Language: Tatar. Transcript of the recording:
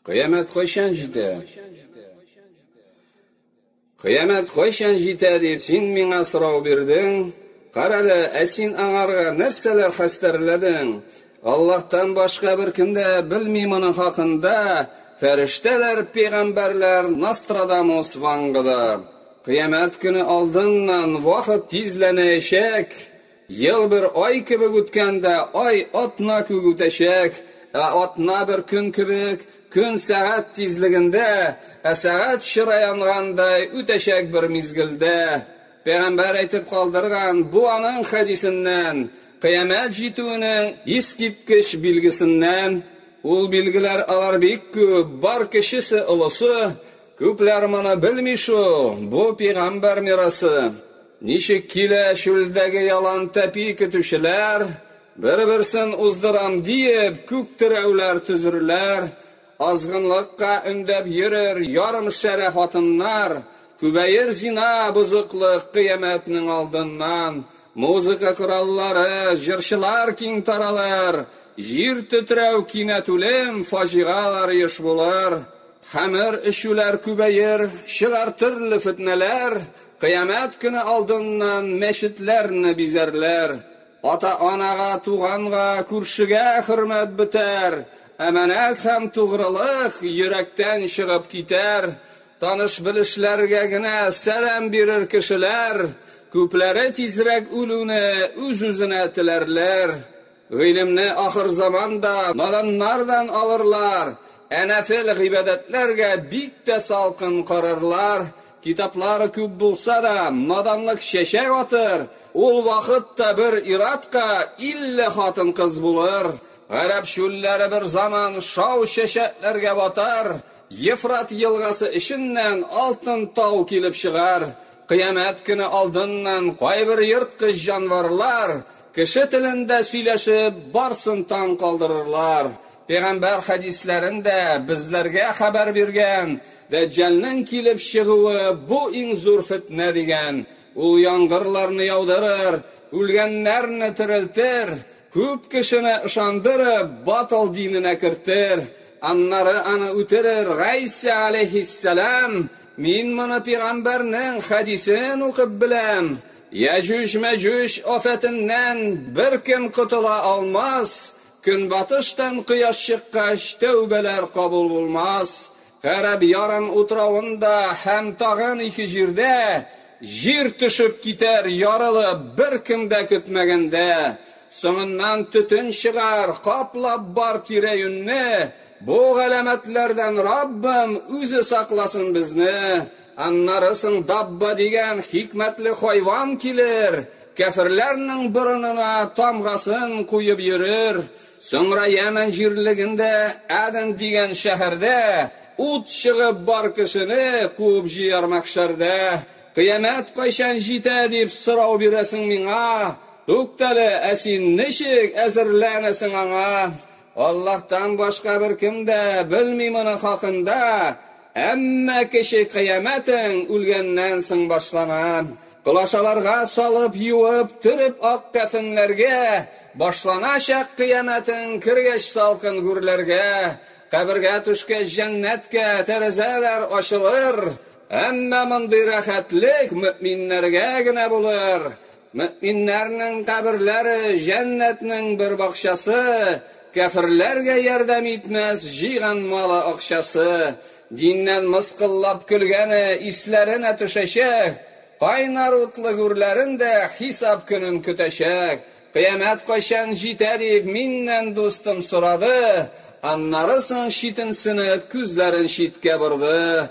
Кыямәт кайчан җитә? Кыямәт кайчан җитә дип син миңа сорау бирдең? Карале, ә син аңарга нәрсәләр хәстәрләдең? Аллаһтан башка бер кем дә белми моның хакында. Фәрештәләр, пәйгамбәрләр, Нострадамус Вангда. Кыямәт көне алдыннан вакыт тизләнәячәк. Ел бер ай кебек үткәндә, ай атна күк үтәчәк, ә атна бер көн кебек, көн сәгать тизлегендә, ә сәгать чыра янгандай үтәчәк бер мизгелдә. Пәйгамбәр әйтеп калдырган бу аның хәдисеннән, кыямәт җитүенең искиткеч билгесеннән. Ул билгеләр алар бик күп, бар кечесе, олысы, күпләр моны белми шул, бу пәйгамбәр мирасы. Ничек килә чүлдәге ялан тәпи көтүчеләр, Бер-берсен уздырам диеп, күк терәүләр төзерләр, Азгынлыкка өндәп йөрер ярымшәрә хатыннар, Күбәер зина, бозыклык, кыямәтнең алдыннан. Музыка кораллары, җырчылар киң таралыр, Җир тетрәү, кинәт үлем, фаҗигалар еш булыр. Хәмер эчүләр күбәер, чыгар төрле фетнәләр, Кыямәт көне алдыннан мәчетләрне бизәрләр, ата-анага, туганга, күршегә хөрмәт бетәр, әманәт һәм тугрылык йөрәктән чыгып китәр, таныш-белешләргә генә сәлам бирер кешеләр күпләре тизрәк үлүне үз-үзенә теләрләр. Гыйлемне ахырзаман да наданнардан алырлар, ә нәфел гыйбадәтләргә бик тә салкын карарлар, китаплар күп булса да, наданлык чәчәк атыр, ул вакыт та бер ир-атка илле хатын-кыз булыр. Гарәп чүлләре берзаман шау чәчәкләргә батар, Ефрат елгасы эченнән алтын тау килеп чыгар, кыямәт көне алдыннан кайбер ерткыч җанварлар Кеше телендә сөйләшеп, барсын таң калдырырлар. Пәйгамбәр хәдисләрен дә безләргә хәбәр биргән, Дәҗҗалнең килеп чыгуы бу иң зур фетнә дигән. Ул яңгырларны яудырыр, үлгәннәрне терелтер, күп кешене ышандырып, батыл диненә кертер. Аннары аны үтерер, Гайсә галәйһиссәлам, мин моны пәйгамбәрнең хәдисен укып беләм. Яҗүҗ-Мәҗүҗ афәтеннән беркем котыла алмас, көнбатыштан кояш чыккач, тәүбәләр кабул булмас, гарәп ярым утравында һәм тагын ике җирдә җир төшеп китәр, ярылып, беркем дә көтмәгәндә, соңыннан төтен чыгар, каплап бар тирә-юньне, бу галәмәтләрдән Раббым үзе сакласын безне, Аннары соң Дабба дигән хикмәтле хайван килер, кяферләрнең борынына тамгасын куеп йөрер, соңра Ямән җирлегендә Әден дигән шәһәрдә ут чыгып бар кешене куып җыяр мәхшәрдә. Кыямәт кайчан җитә дип сорау бирәсең миңа? Туктале, ә син ничек әзерләнәсең аңа? Аллаһтан башка беркем дә белми моның хакында, әмма кече кыямәтең үлгәннән соң башлана. Колачаларга салып, юып, төреп ак кәфенләргә, башланачак кыямәтең кергәч салкын гүрләргә, кабергә төшкәч җәннәткә тәрәзәләр ачылыр, әмма мондый рәхәтлек мөэминнәргә генә булыр. Мөэминнәрнең каберләре җәннәтнең бер бакчасы, кяферләргә ярдәм итмәс җыйган малы акчасы, диннән мыскыллап көлгәне исләренә төшәчәк, кайнар утлы гүрләрен дә хисап көнен көтәчәк, кыямәт кайчан җитә дип миннән дустым сорады, аннары соң читенсенеп күзләрен читкә борды,